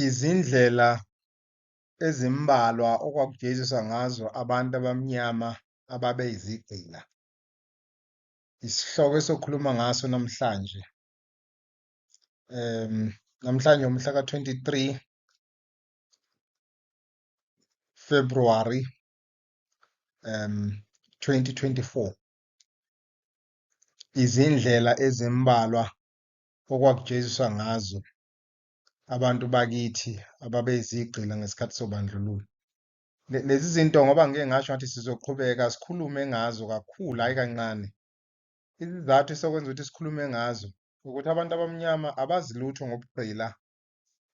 Izindlela ezimbalwa okwakujeziswa ngazo abantu abamnyama ababe yizigqila, isihloko esokhuluma ngaso namhlanje. Namhlanje umhla ka-23 February 2024. Izindlela ezimbalwa okwakujeziswa ngazo abantu bakithi ababezigqila ngesikhathi sobandlululo. Lezi zinto ngoba ngike ngasho ngathi sizoqhubeka sikhulume ngazo kakhulu, hhayi kancane. Isizathu esokwenza ukuthi sikhulume ngazo ukuthi abantu abamnyama abazi lutho ngobugqila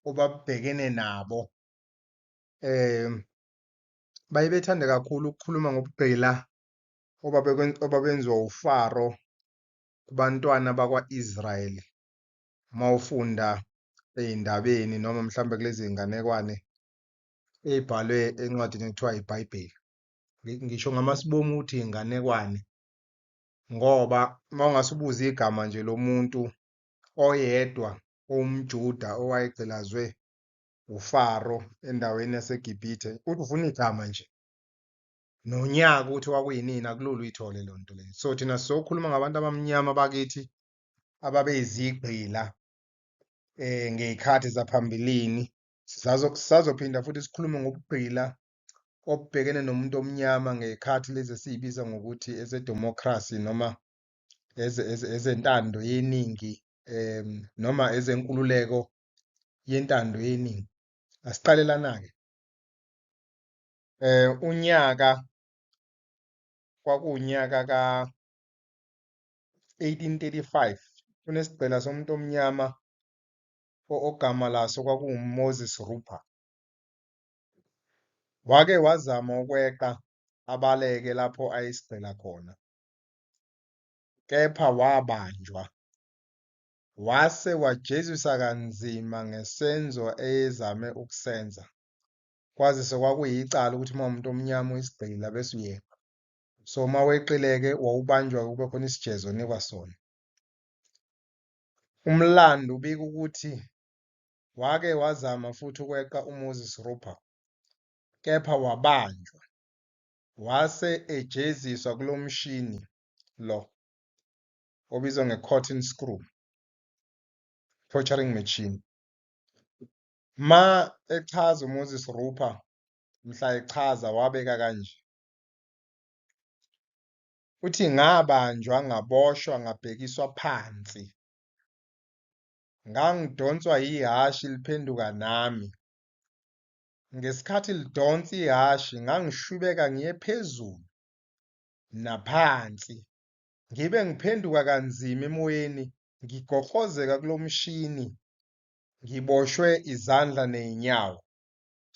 obabhekene nabo. Um baye bethande kakhulu ukukhuluma ngobugqila obabenziwa uFaro kubantwana bakwa-Israyeli uma ufunda ey'ndabeni noma mhlawumbe kulezi iy'nganekwane ey'bhalwe encwadini ekuthiwa ibhayibheli ngisho ngamasibomu ukuthi iy'nganekwane ngoba uma ungase ubuze igama nje lomuntu oyedwa owumjuda owayegqilazwe ufaro endaweni yasegibhithe uthi ufuna igama nje nonyaka ukuthi wakuyinini akulula uyithole loo nto leyo so thina sizokhuluma ngabantu abamnyama bakithi ababeyizigqila eh ngeyikhathi zaphambilini sizazophinda futhi sikhulume ngobugqila obubhekene nomuntu omnyama ngekhathi lezi esiyibiza ngokuthi ezedemocracy noma ezentando yeningi um noma ezenkululeko yentando yeningi asiqalelana-ke eh unyaka kwakuwunyaka ka 1835 kunesigqila somuntu omnyama ogama laso kwakunguMoses Rupa wake wazama ukweqa abaleke lapho ayisigqila khona kepha wabanjwa wase wajezisa kanzima ngesenzo eyezame ukusenza Kwazise kwakuyicala ukuthi uma umuntu omnyama uyisigqila bese uyekwa. So uma weqileke wawubanjwa kube khona isijezo onikwa sona. Umlando ubika ukuthi wake wazama futhi ukweqa uMoses Rupa kepha wabanjwa wase ejeziswa kulo mshini lo obizwa nge-cotton screw torturing machine. Ma echaza uMoses Rupha mhla echaza wabeka kanje. Uthi ngabanjwa ngaboshwa ngabhekiswa phansi. Ngangidonswa yihashi liphenduka nami. Ngesikhathi lidonsa ihashi ngangishwibeka ngiye phezulu naphansi. Ngibe ngiphenduka kanzima emoyeni ngigoqozeka kulomshini ngiboshwe izandla ney'nyawo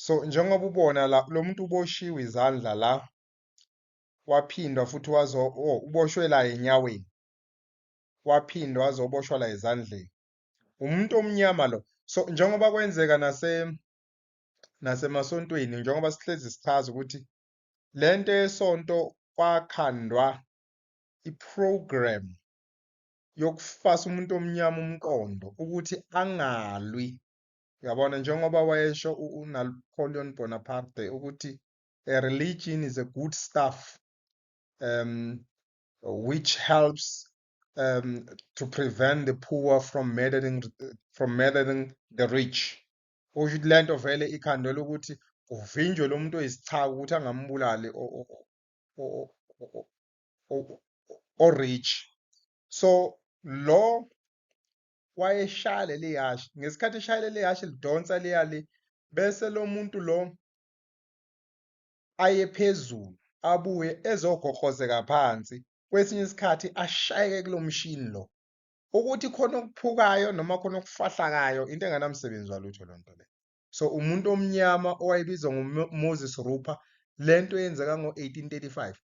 so njengoba ubona la lo muntu uboshiwe izandla la waphindwa futhi wazo oh, uboshwe la enyaweni waphindwa wazoboshwa la ezandleni umuntu omnyama lo so njengoba kwenzeka nase nasemasontweni njengoba sihlezi sichaza ukuthi le nto yesonto kwakhandwa iprogram yokufasa umuntu omnyama umqondo ukuthi angalwi yabona njengoba wayesho uNapoleon Bonaparte ukuthi a religion is a good stuff um which helps um to prevent the poor from murdering from murdering the rich usho ukuthi lento vele ikhando lokuthi uvinjwe lomuntu oyisichaka ukuthi angambulali o rich so lo wayeshaya leli yashi ngesikhathi eshaya leli yashi lidonsa liyali bese lo muntu lo aye phezulu abuye ezogoqozeka phansi kwesinye isikhathi ashayeke kulo mshini lo ukuthi khona okuphukayo noma khona okufahlakayo into enganamsebenzi walutho loo nto leyo So umuntu omnyama owayebizwa ngoMoses Rupa lento eyenzeka ngo-1835.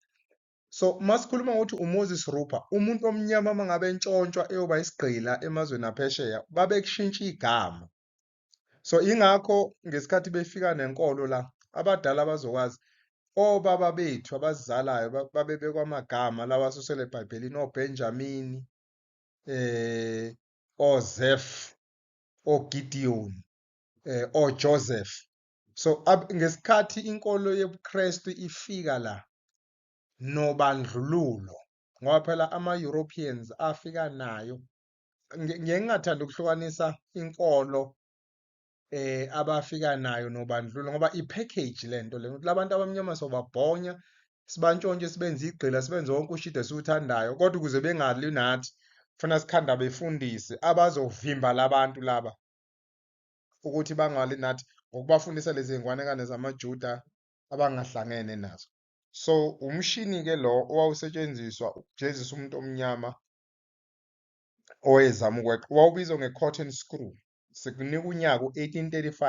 So masikhuluma ngokuthi uMoses Rupa umuntu omnyama mangabe entshontshwa eyoba isigqila emazweni aphesheya babekushintsha igama. So ingakho ngesikhathi befika nenkolo la abadala bazokwazi obaba bethu abazizalayo babebekwa amagama lawa asusele eBhayibhelini oBenjamini eh oZef oGideon eh, or Joseph so ngesikhathi inkolo yobuKristu ifika la nobandlululo ngoba phela ama-Europeans afika nayo ngiye ngingathanda ukuhlukanisa inkolo eh abafika nayo nobandlululo ngoba i-package le nto le ukuthi labantu abamnyama sobabhonya sibantshontshe sibenze igqila sibenze wonke ushide esiwuthandayo kodwa ukuze bengali nathi funa sikhanda befundise abazovimba labantu laba ukuthi bangalwi nathi ngokubafundisa lezi ngwanekane zamaJuda abangahlangene nazo. So umshini-ke lo owawusetshenziswa ukujezisa umuntu omnyama owayezama ukweqa wawubizwa nge-cotton screw. Sikunika unyaka u-1835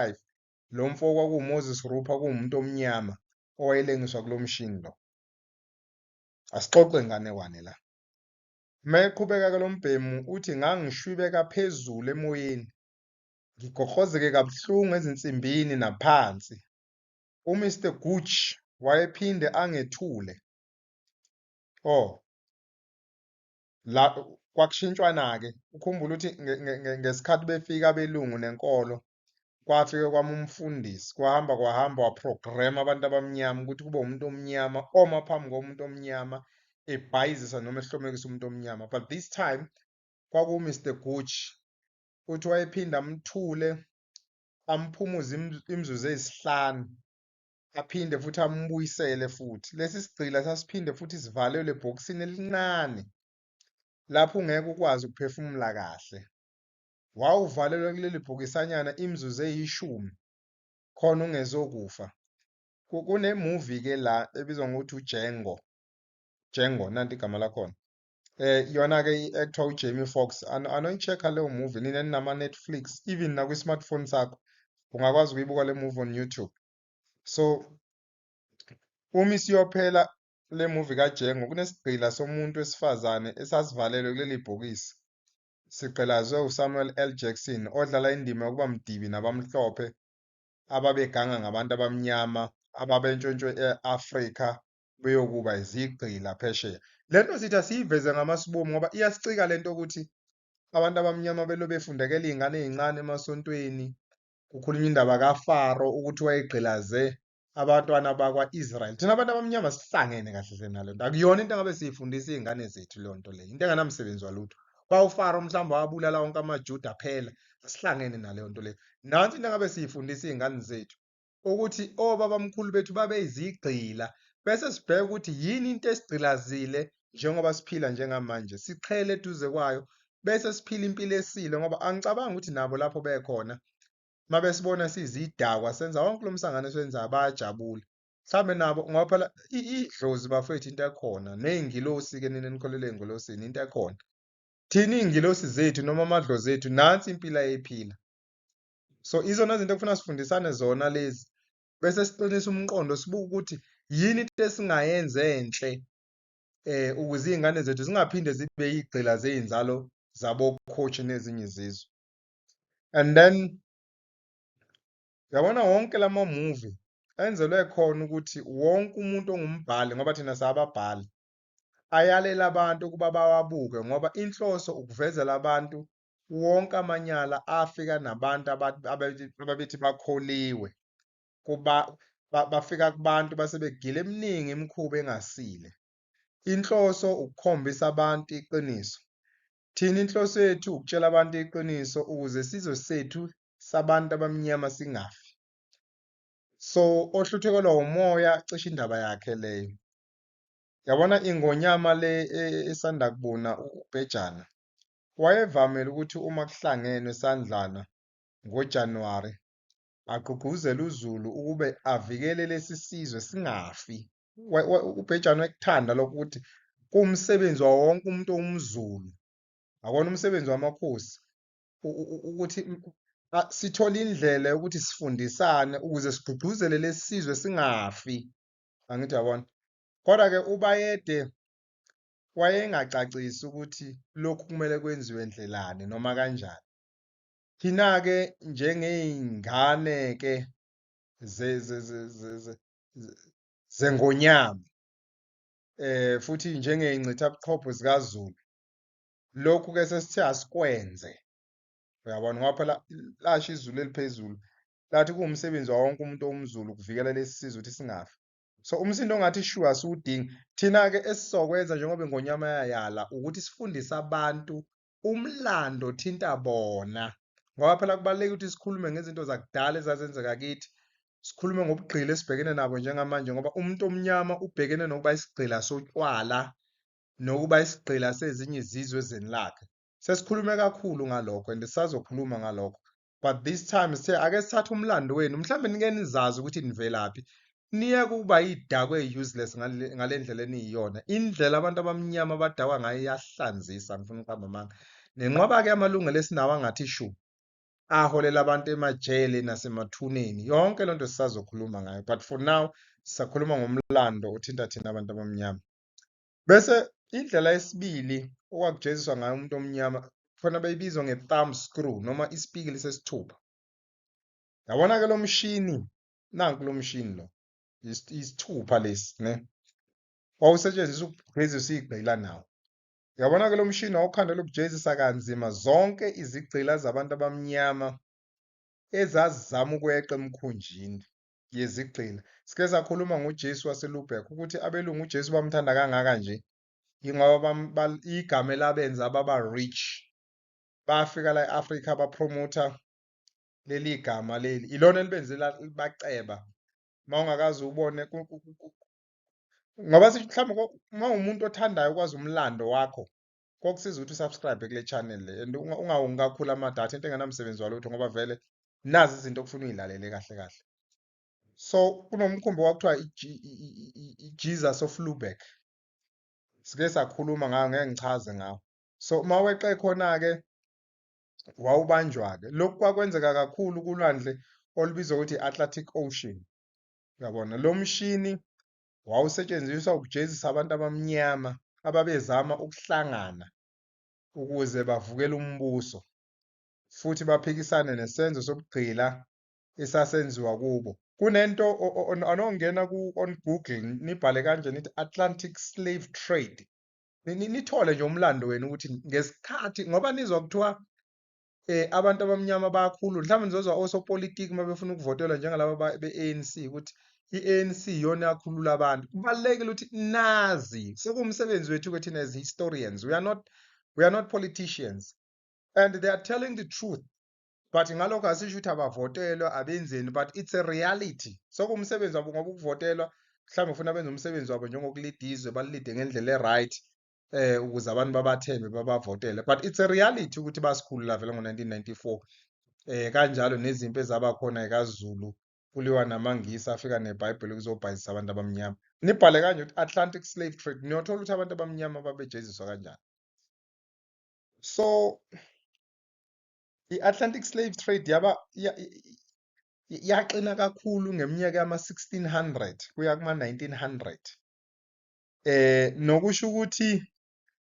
lo mfo kwakuwuMoses Rupa kuwumuntu omnyama owayelengiswa kulo mshini lo. Asixoxe nganekwane la. Uma eqhubeka-ke lo mbhemu uthi, Ngangishwibeka phezulu emoyeni, ngigoqozeke kabuhlungu ezinsimbini naphansi. UMr Gooch wayephinde angethule. O, la, kwakushintshwana-ke. Ukhumbule ukuthi nge, nge, nge, ngesikhathi befika abelungu nenkolo, kwafike kwami umfundisi kwahamba kwahamba waprograma abantu abamnyama ukuthi kube umuntu omnyama oma phambi komuntu omnyama ebhayizisa noma ehlomekisa umuntu omnyama but this time kwakuMr Gooch uthi wayephinda amthule amphumuze imizuzu eyisihlanu aphinde futhi amubuyisele futhi lesi sigqila sasiphinde futhi sivalelwe ebhokisini elincane lapho ungeke ukwazi ukuphefumula kahle wawuvalelwa kuleli bhokisanyana imizuzu eyishumi khona ungezokufa. Kune-movie-ke la ebizwa ngokuthi uDjango, Django nanti igama lakhona. Eh yona-ke i-actor uJamie Foxx ano anoyi-check-a leyo movie nina eninama-Netflix even nakwi-smartphone sakho ungakwazi ukuyibuka le movie on YouTube. So uma isiyophela le movie kaDjango kunesigqila somuntu wesifazane esasivalelwe kuleli bhokisi Sigqilazwe uSamuel L. Jackson odlala indima yokuba mdibi nabamhlophe ababeganga ngabantu abamnyama ababentshontshwe e-Afrika beyokuba izigqila phesheya. Le nto sithi asiyiveze ngamasibomu ngoba iyasicika le nto ukuthi abantu abamnyama belo befundekela iy'ngane ey'ncane emasontweni, kukhulunywa indaba kaFaro ukuthi wayegqilaze abantwana bakwa-israyeli thina abantu abamnyama sihlangene kahle hle nalo nto akuyona into engabe siyifundisa iy'ngane zethu leyo nto leyo into enganamsebenzi walutho bawufaro mhlawumbe wabulala wonke amajuda phela asihlangene naleyo nto leyo nansi into engabe siyifundisa iy'ngane zethu ukuthi obabamkhulu bethu babeyizigqila bese sibheke ukuthi yini into esigqilazile njengoba siphila njengamanje siqhele eduze kwayo bese siphila impilo esile ngoba angicabangi ukuthi nabo lapho bekhona uma besibona sizidakwa senza wonke lo msangano esiwenzayo bayajabula mhlawumbe nabo ngoba phela idlozi bafethu into ekhona ney'ngilosi-ke nina nikholelwe engilosini into ekhona thina iy'ngilosi zethu noma amadlozi ethu nansi impilo ayephila so izona zinto ekufuna sifundisane zona lezi bese siqinisa umqondo sibuke ukuthi yini into esingayenza enhle eh ukuze izingane zethu zingaphinde zibe igcila zeinzalo zabo coach nezinye izizwe and then yabona wonke lama movie enzelwe khona ukuthi wonke umuntu ongumbhali ngoba thina sababhali ayalela abantu ukuba bawabuke ngoba inhloso ukuvezela abantu wonke amanyala afika nabantu ababethi bakholiwe kuba bafika kubantu base begile eminingi imikhuba engasile inhloso ukukhombisa abantu iqiniso Thina inhloso yethu ukutshela abantu iqiniso ukuze isizwe sethu sabantu abamnyama singafi. So ohluthukelwa umoya cishe indaba yakhe leyo. Yabona ingonyama le e- esanda kubuna u- ubhejana. Wayevamile ukuthi uma kuhlangenwe sandlana ngoJanuwari agqugquzele uZulu ukube avikele lesi sizwe singafi ubhejane wekuthanda lokho ukuthi kuwumsebenzi wawo wonke umuntu owumZulu akona umsebenzi wamakhosi ukuthi sithole indlela yokuthi sifundisane ukuze sigqugquzele lesi sizwe singafi angithi yabona kodwa ke ubayede wayengacacisi ukuthi lokhu kumele kwenziwe ndlelani noma kanjani thina ke njengeyingane ke zengonyama eh futhi njengeyingcitha buchopho zikaZulu lokhu ke sesithe asikwenze uyabona ngoba phela lasho izulu eliphezulu lathi kuwumsebenzi wawo wonke umuntu owumzulu ukuvikela lesi sizwe ukuthi singafi so umsindo ongathi shuwa siwudingi thina-ke esizokwenza njengoba ingonyama yayala ukuthi sifundise abantu umlando othinta bona ngoba phela kubalulekile ukuthi sikhulume ngezinto zakudala ezazenzeka kithi sikhulume ngobugqila esibhekene nabo njengamanje ngoba umuntu omnyama ubhekene nokuba isigqila sotywala nokuba isigqila sezinye izizwe ezweni lakhe sesikhulume kakhulu ngalokho and sisazokhuluma ngalokho but this time sithe ake sithathe umlando wenu mhlawumbe nike nizazi ukuthi nivelaphi niye kuba idakwe useless ngale ndlela eniyiyona indlela abantu abamnyama abadakwa ngayo iyahlanzisa ngifuna ukuqamba amanga nenqwaba-ke amalungelo esinawo angathi shu aholela abantu emajele nasemathuneni yonke loo nto sisazokhuluma ngayo but for now sisakhuluma ngomlando othinta thina abantu abamnyama Bese indlela yesibili okwakujeziswa ngayo umuntu omnyama khona beyibizwa nge-thumb screw noma isipikili sesithupha. Yabona-ke lo mshini, nanku lo mshini lo, isithupha lesi ne. Wawusetshenziswa ukugezisa igcila nawo. Yabona-ke lo mshini wawukhandela ukujezisa kanzima zonke izigcila zabantu abamnyama ezazizama ukweqa emkhunjini yezigqila. Sike sakhuluma ngoJesu waseLubeck ukuthi abelungu uJesu bamthanda kangaka nje yingoba igama elabenza baba rich. Bafika la e-Afrika bapromotha leli gama leli. Ilona elibenze baceba. Uma ungakaze ubone ngoba mhlawumbe uma umuntu othandayo ukwazi umlando wakho kokusiza ukuthi usubscribe kule channel le and ungawongi kakhulu amadata into engenamsebenzi walutho ngoba vele nazi izinto okufuna uyilalele kahle kahle so kunomkhumbi kwakuthiwa i-jesus of lubeck sike sakhuluma ngayo ngeke ngichaze ngawo so uma weqe khona-ke wawubanjwa-ke lokhu kwakwenzeka kakhulu kulwandle olubizwa ukuthi i-atlantic ocean uyabona lo mshini Wawusetshenziswa ukujezisa abantu abamnyama ababezama ukuhlangana ukuze bavukele umbuso futhi baphikisane nesenzo sobugqila esasenziwa kubo. Kunento anongena ku on Google nibhale kanje nithi Atlantic slave trade nithole nje umlando wenu ukuthi ngesikhathi ngoba nizwa kuthiwa eh abantu abamnyama bayakhulu mhlawumbe nizozwa osopolitiki uma befuna ukuvotelwa njengalaba be-ANC ukuthi i-ANC iyona yakhulula abantu kubalulekile ukuthi nazi sekumsebenzi wethu ukuthi thina as historians we are not we are not politicians and they are telling the truth but ngalokho asisho ukuthi abavotelwa abenzeni but it's a reality sokumsebenzi wabo ngoba ukuvotelwa mhlawumbe ufuna benze umsebenzi wabo njengokulida izwe balilide ngendlela e-right eh ukuze abantu babathembe babavotele but it's a reality ukuthi basikhulula vele ngo-1994 eh kanjalo nezimpi ezaba khona ekaZulu kuliwa namaNgisi afika neBhayibheli kuzobhayizisa abantu abamnyama nibhale kanje ukuthi Atlantic slave trade niyothola ukuthi abantu abamnyama babejeziswa kanjani so i-Atlantic slave trade yaba yaxina kakhulu ngeminyaka yama-1600 kuya kuma-1900 eh nokusho ukuthi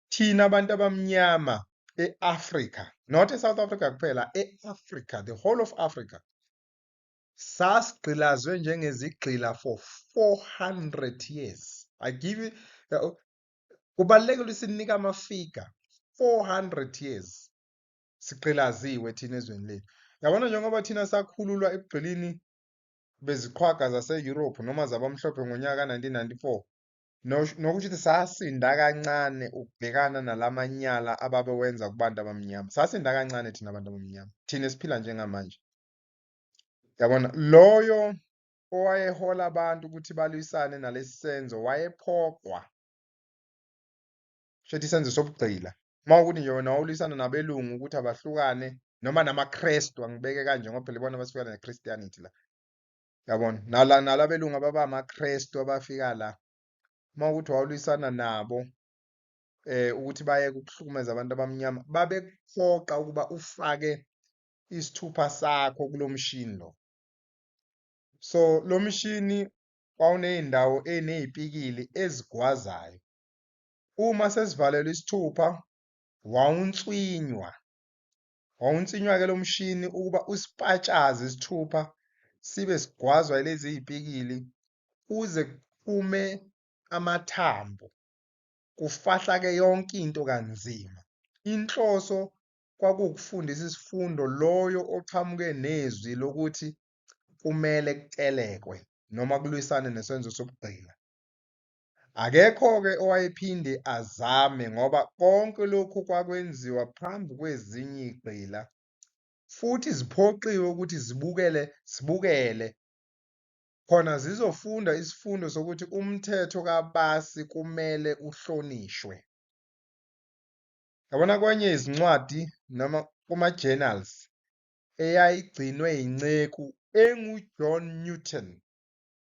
thina abantu abamnyama eAfrica not eSouth Africa kuphela eAfrica the whole of Africa sasigqilazwe njengezigqila for 400 years i give you uh, kubalekile ukuthi sinika amafiga 400 years sigqilaziwe thina ezweni lethu yabona njengoba thina sakhululwa ekugqilini beziqhwaga zase-Europe noma zabamhlophe ngonyaka ka-1994 nokusho ukuthi sasinda kancane ukubhekana nala manyala ababewenza kubantu abamnyama. Sasinda kancane thina bantu abamnyama, thina esiphila njengamanje. Yabona? Loyo owayehola abantu ukuthi balwisane nalesi senzo wayephoqwa. Shuthi isenzo sobugqila. Uma ukuthi nje wena wawulwisana nabelungu ukuthi abahlukane noma namaKristu angibeke kanje ngoba phela ibona abasifika neChristianity la. Yabona? Nala nala belungu ababa amaKristu abafika la. Uma ukuthi wawulwisana nabo eh ukuthi bayeke ukuhlukumeza abantu abamnyama babekuphoqa ukuba ufake isithupha sakho kulomshini lo. So lomshini wawunezindawo enezipikili ezigwazayo. Uma sesivalelwe isithupha wawunswinywa. Wawunsinywa-ke lo mshini ukuba usipatshaze isithupha sibe sigwazwa ilezi ziyipikili kuze kuphume amathambo kufahlake yonke into kanzima. Inhloso kwakuwukufundisa isifundo loyo oqhamuke nezwi lokuthi kumele kutelekwe noma kulwisane nesenzo sobugqila. Akekho-ke owayephinde azame ngoba konke lokhu kwakwenziwa phambi kwezinye igqila futhi ziphoqiwe ukuthi zibukele zibukele khona zizofunda isifundo sokuthi umthetho kabasi kumele uhlonishwe. Yabona kwenye izincwadi noma kuma-journals eyayigcinwe yinceku enguJohn Newton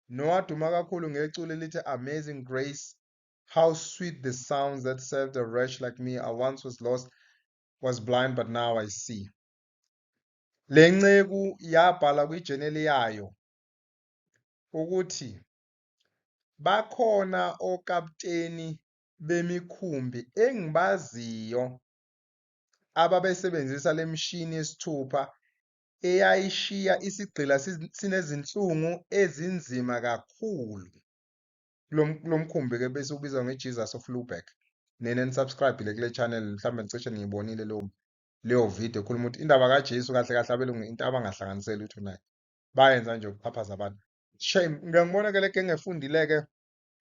nowaduma kakhulu ngeculo elithi Amazing Grace, How sweet the sounds that saved a wretch like me, I once was lost, was blind but now I see. Le nceku yabhala kwijeneli yayo ukuthi bakhona okapteni bemikhumbi engibaziyo ababesebenzisa le mishini yesithupha eyayishiya isigqila sinezinhlungu ezinzima kakhulu. Lo mkhumbi-ke bese ubizwa ngeJesus of Lubeck. Nina enisubscribe-ile kule channel mhlawumbe nicishe niyibonile leyo leyo video ekhuluma ukuthi indaba kaJesu kahle kahle abelungu into abangahlanganiseli lutho nayo. Bayenza nje ukuphaphaza abantu. Shame, ngiyangibona-ke le genge efundile-ke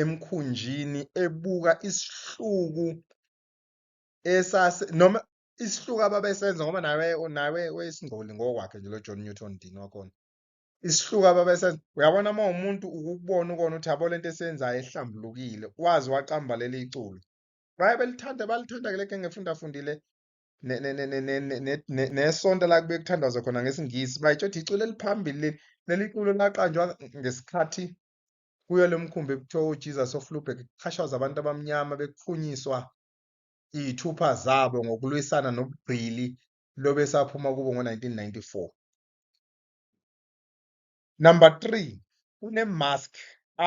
emkhunjini ebuka isihluku esase noma isihluku ababesenza ngoba nawe nawe wayesingcoli ngokwakhe nje lo John Newton Dean wakhona isihluku ababesenza uyabona uma umuntu ukubona ukona ukuthi yabo lento esenzayo ehlambulukile wazi waqamba leli iculo baye belithanda balithanda ke leke ngefunda fundile nesonto la kube kuthandazwa khona ngesingisi bayitsho ukuthi iculo eliphambili leli culo laqanjwa ngesikhathi Kuyo le mkhumbi ekuthiwa uJesus of Lubeck kuxhashazwa abantu abamnyama bekuphunyiswa iyithupha zabo ngokulwisana nobugqili lobesaphuma kubo ngo-1994. Number 3 kunemask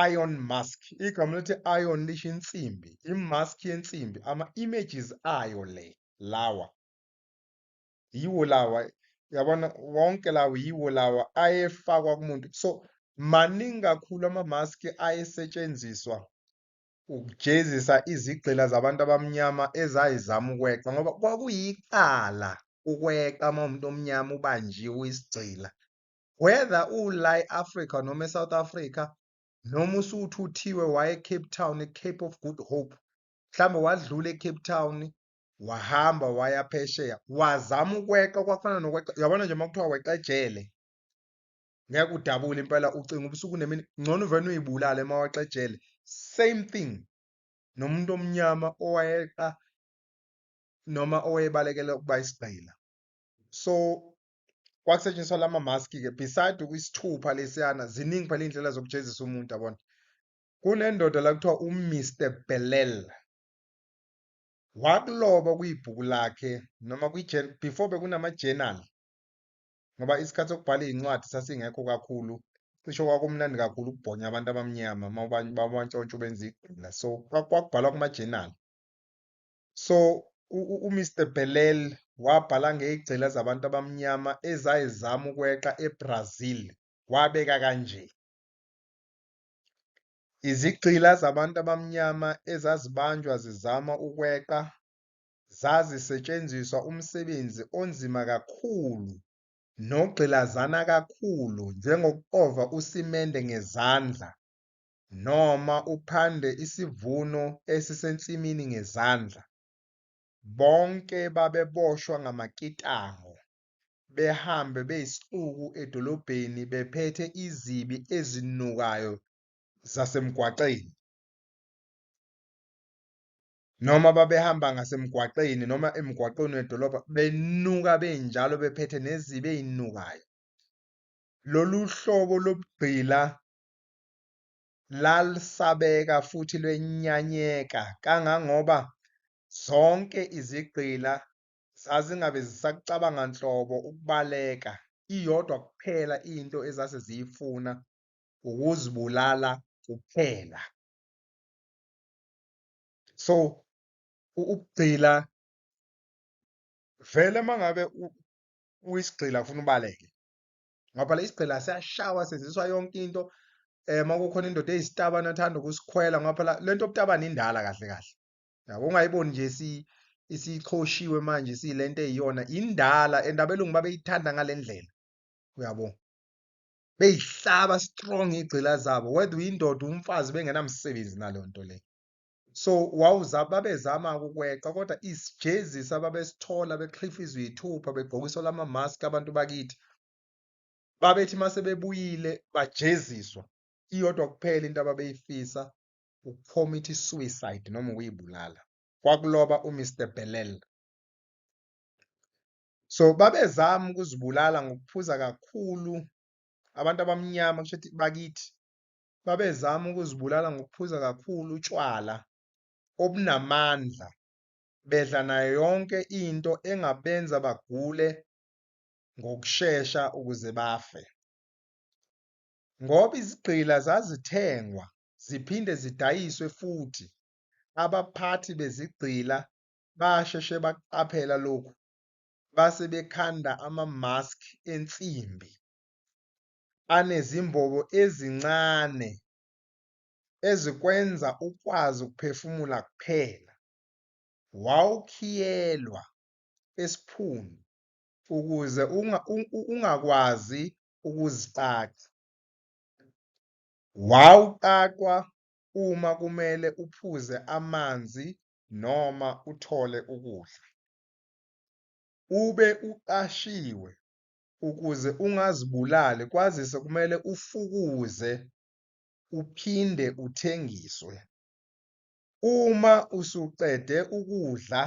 iron mask igama lokuthi iron lisho insimbi imask yensimbi ama-images ayo le lawa yiwo lawa yabona wonke lawo yiwo lawa ayefakwa kumuntu so maningi kakhulu amamaski ayesetshenziswa ukujezisa izigqila zabantu abamnyama ezayizama ukweqa ngoba kwakuyicala ukweqa uma umuntu omnyama ubanjiwe uyisigqila whether ula e-afrika noma e-south africa noma usuthuthiwe waye-cape town e-cape of good hope mhlawumbe wadlula e-cape town wahamba waya phesheya wazama ukweqa kwafana nokweqa yabona nje makuthiwa weqa ejele ngeke udabule impela ucinga ubusuku nemini ngcono uvena uyibulale uma weqa ejele same thing nomuntu omnyama owayeqa noma owayebalekela ukuba isigqila so kwakusetshenziswa lama mask ke beside isithupha lesiyana ziningi phela indlela zokujezisa umuntu yabona kunendoda la kuthiwa uMr Belel Wakuloba kuyibhuku lakhe noma kwi before bekunama journal ngoba isikhathi sokubhala izincwadi sasingekho kakhulu cisho kwakumnandi kakhulu ukubhonya abantu abamnyama babantshontsha ubenza igqila so kwakubhalwa kuma journal so uMr Belel wabhala ngezigcila zabantu abamnyama ezayezama ukweqa eBrazil wabeka kanje Izigqila zabantu abamnyama ezazibanjwa zizama ukweqa zazisetshenziswa umsebenzi onzima kakhulu nogqilazana kakhulu njengokuxova usimende ngezandla noma uphande isivuno esisensimini ngezandla. Bonke babeboshwa ngamakitango behambe beyisixuku edolobheni bephethe izibi ezinukayo zasemgwaqeni, noma babehamba ngasemgwaqeni noma emgwaqeni wedolobha benuka benjalo bephethe nezibi ezinukayo. Lolu hlobo lobugqila lalsabeka futhi lwenyanyeka kangangoba zonke izigqila Zazingabe zisakucabanga nhlobo ukubaleka, iyodwa kuphela into ezase ziyifuna ukuzibulala kuphela. So ukugcila vele mangabe uyisigqila ufuna ubaleke ngoba phela isigqila siyashawa senziswa yonke into um uma kukhona indoda eyisitabane athanda ukusikhwela ngoba phela le nto yobutabane indala kahle kahle yabo ungayiboni nje si isichoshiwe manje siyilento eyiyona indala and abelungu babeyithanda ngalendlela uyabo beyihlaba strong igcila zabo whether uyindoda umfazi bengenamsebenzi nalonto le so wawuza babezama ukukweqa kodwa isijezisi ababesithola bekhlifa izwithupha begqokiswa lama mask abantu bakithi babethi mase bebuyile bajeziswa iyodwa kuphela into ababeyifisa ukucommit i-suicide noma ukuyibulala kwakuloba uMr Bellel. So babezama ukuzibulala ngokuphuza kakhulu abantu abamnyama kusho ukuthi bakithi babezama ukuzibulala ngokuphuza kakhulu utshwala obunamandla bedla nayo yonke into engabenza bagule ngokushesha ukuze bafe. Ngoba izigqila zazithengwa ziphinde zidayiswe futhi abaphathi bezigqila basheshe bakuqaphela lokhu base bekhanda ama-mask ensimbi anezimbobo ezincane ezikwenza ukwazi ukuphefumula kuphela. Wawukhiyelwa esiphunu ukuze ungakwazi ukuziqaqa. Wawuqaqwa uma kumele uphuze amanzi noma uthole ukudla. Ube uqashiwe ukuze ungazibulali kwazise kumele ufukuze uphinde uthengiswe. Uma usuqede ukudla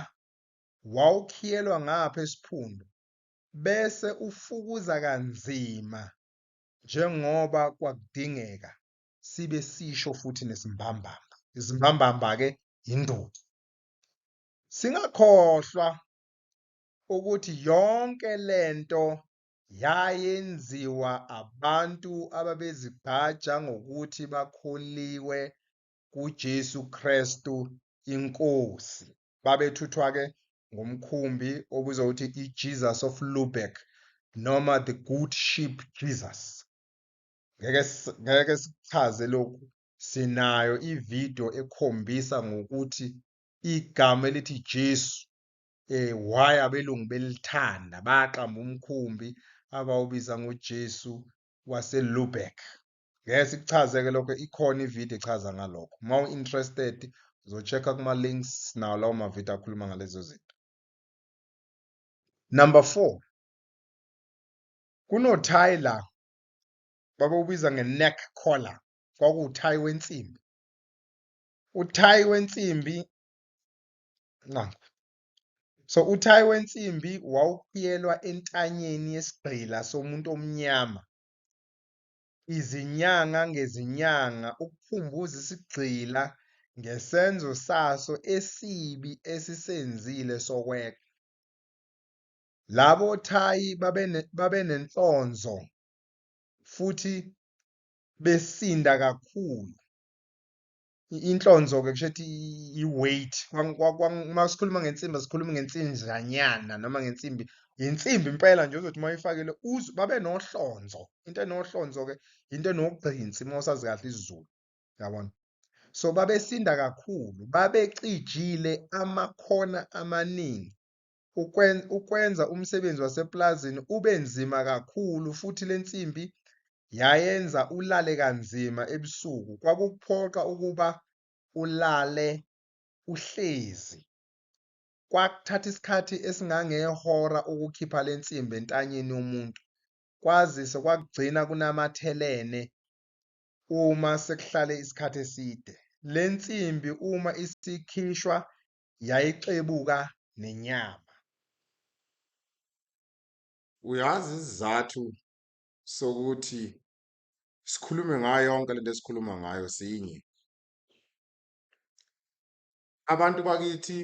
wawukhiyelwa ngapha esiphundu bese ufukuza kanzima njengoba kwakudingeka sibe sisho futhi nesimbambamba. Izimbambamba-ke yinduku. Singakhohlwa ukuthi yonke lento yayenziwa abantu ababezigqaja ngokuthi bakholiwe kuJesu Kristu inkosi babethuthwa ke ngomkhumbi obizwa ukuthi iJesus of Lubeck noma the good sheep Jesus ngeke ngeke sichaze lokhu sinayo ivideo ekhombisa ngokuthi igama elithi Jesu eh why abelungu belithanda baqamba umkhumbi abawubiza ngoJesu waseLubeck ngeke sikuchaze ke lokho ikhona ivideo echaza ngalokho uma u-interested uzochecka kuma-links nawo lawo mavideo akhuluma ngalezo zinto number four kunothayi la babewubiza nge-neck collar kwakuwuthayi wensimbi uthayi wensimbi nangu so uthayi wensimbi wawukhiyelwa entanyeni yesigqila somuntu omnyama izinyanga ngezinyanga ukuphumbuza isigqila ngesenzo saso esibi esisenzile sokweqa. Labo thayi babenenhlonzo futhi besinda kakhulu. inhlonzo-ke kusho ukuthi i-weight uma sikhuluma ngensimbi asikhulumi ngensinjanyana noma ngensimbi yinsimbi impela nje uzothi uma uyifakile uzwe babe nohlonzo into enohlonzo-ke into enogqinsi uma usazi kahle isizulu yabona so babesinda kakhulu babecijile amakhona amaningi ukwenza umsebenzi wasepulazini ube nzima kakhulu futhi le nsimbi yayenza ulale kanzima ebusuku. Kwakukuphoqa ukuba ulale uhlezi. Kwakuthatha isikhathi esingangehora ukukhipha le nsimbi entanyeni yomuntu, kwazise kwakugcina kunamathelene uma sekuhlale isikhathi eside. Le nsimbi uma isikhishwa yayixebuka nenyama. Uyazi isizathu sokuthi sikhulume ngayo yonke lento esikhuluma ngayo sinye. Abantu bakithi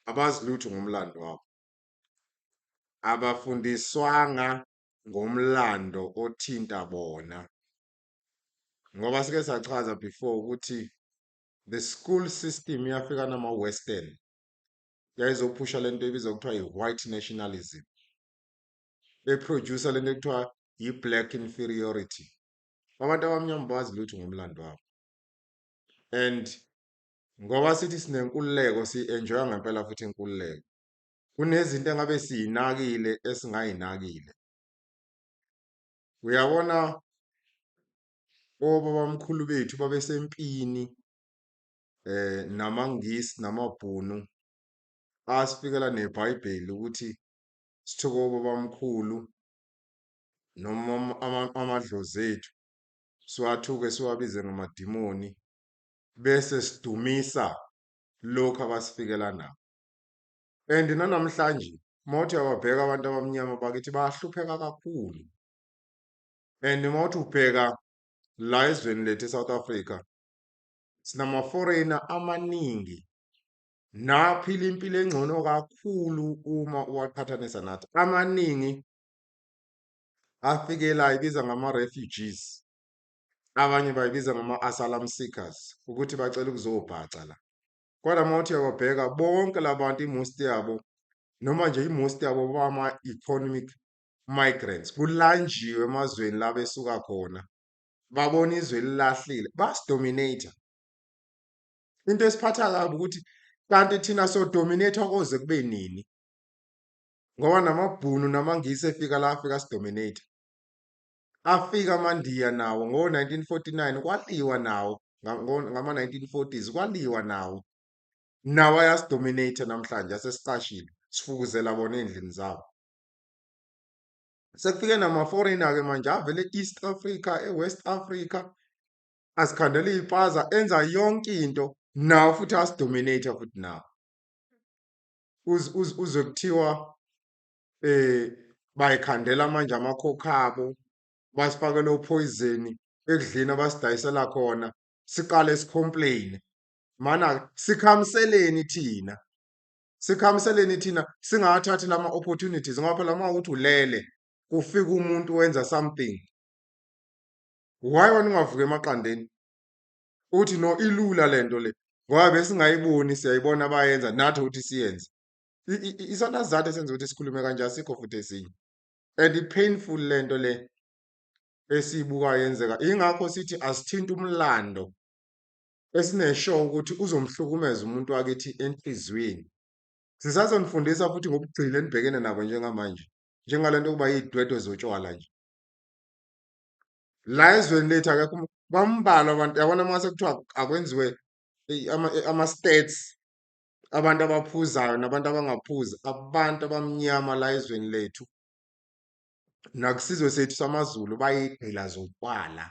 abazi lutho ngomlando wabo. Abafundiswanga ngomlando othinta bona. Ngoba sike sachaza before ukuthi The school system yafika nama western yayizophusha lento ebizwa kuthiwa i-white nationalism beproducer lento ekuthiwa yi-black inferiority abantu abamnyama bazi lutho ngomlando wabo and ngoba sithi sinenkululeko si-enjoya ngempela futhi inkululeko kunezinto engabe siyinakile esingayinakile uyabona obabamkhulu bethu babesempini eh namaNgisi namaBhunu asifikela neBhayibheli ukuthi sithoke obabamkhulu noma amadlozi ethu siwathuke siwabize ngamadimoni bese sidumisa lokho abasifikela nako and nanamhlanje mawuthi uyababheka abantu abamnyama bakithi bayahlupheka kakhulu. and uma uthi ubheka la ezweni lethu eSouth Africa sinama foreigner amaningi naphila impilo engcono kakhulu uma uwaqhathanisa nathi amaningi afikela ibiza ngama refugees abanye bayibiza ngama asylum seekers ukuthi bacela ukuzobhaca la kodwa uma uthi uyababheka bonke labantu imost yabo noma nje imost yabo bama economic migrants kulanjiwe emazweni la besuka khona babona izwe elilahlile basidominator into esiphatha kabi ukuthi kanti thina so dominator koze kube nini ngoba namabhunu namangisi efika la afika sidominator afika amandiya nawo ngo 1949 kwaliwa nawo ngama 1940s kwaliwa nawo nawo ayasidominator namhlanje asesicashile sifukuzela bona endlini zabo sekufike nama-foreigner ke manje avele e-east africa e-west africa azikhandela iy'paza enza yonke into nawo futhi asidominate futhi nawo uzwe kuthiwa eh bayikhandela manje amakhokha abo basifakela uphoyizeni ekudleni abasidayisela khona siqale sicomplaine mana sikhamseleni thina sikhamiseleni thina singawathathi lama opportunities ngoba phela uma uthi ulele kufika umuntu wenza something why wena ungavuka emaqandeni uthi no ilula lento le ngoba besingayiboni siyayibona bayenza nathi ukuthi siyenze isona sizathu esenza ukuthi sikhulume kanje asikho futhi esinye and i-painful lento le esiyibukayo yenzeka ingakho sithi asithinta umlando esineshow ukuthi uzomhlukumeza umuntu wakithi enhliziyweni. Sisazonifundisa futhi ngobugcila enibhekene nabo njengamanje, njengale nto yokuba yiy'dwedwe zotshwala nje. La ezweni lethu akekho umu bambalwa abantu yabona uma sekuthiwa akwenziwe eyi ama ama-stats abantu abaphuzayo nabantu abangaphuzi, abantu abamnyama la ezweni lethu nakusizwe sethu samaZulu bayigqila zotshwala.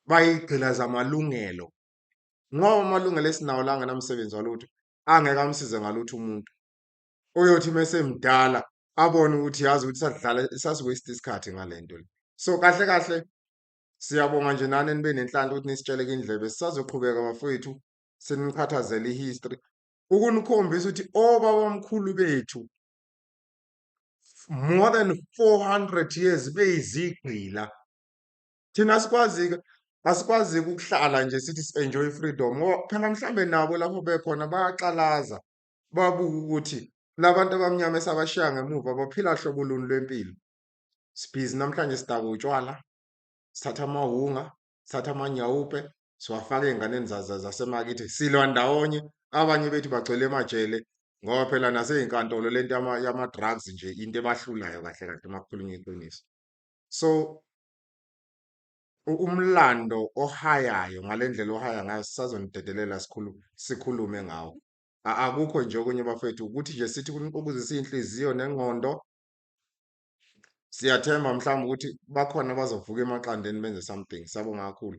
bayigqilaza amalungelo ngoba amalungelo esinawo la angenamsebenzi walutho angeke amsize ngalutho umuntu oyothi mesemdala abone ukuthi yazi ukuthi sadlala sasiwaste isikhathi ngalento le so kahle kahle siyabonga nje nani nibe nenhlanhla ukuthi nisitsheleke indlebe sisazoqhubeka bafowethu siniqhathazele ihistory ukunikhombisa ukuthi obabamkhulu bethu more than 400 years beyizigqila Thina asikwazi-ke asikwazi-ke ukuhlala nje sithi si-enjoy i-freedom ngoba phela mhlawumbe nabo lapho bekhona bayaqalaza, babuke ukuthi la bantu abamnyama esabashiya ngemuva baphila hlobo luni lwempilo. Sibhizi namhlanje sidakwa utshwala, sithatha amawunga, sithatha amanyawupe, siwafaka ey'nganeni zasemakithi, silwa ndawonye. Abanye bethu bagcwele emajele ngoba phela nasey'nkantolo le nto yama-drugs nje into ebahlulayo kahle kahle uma kukhulunywa iqiniso. So, Umlando ohayayo ngale ndlela ohaya ngayo sisazonidedelela sikhulu sikhulume ngawo. A- Akukho nje okunye bafethu ukuthi nje sithi ukuzisa inhliziyo nengqondo. Siyathemba mhlawumbe ukuthi bakhona abazovuka emaqandeni benze something. Siyabonga kakhulu.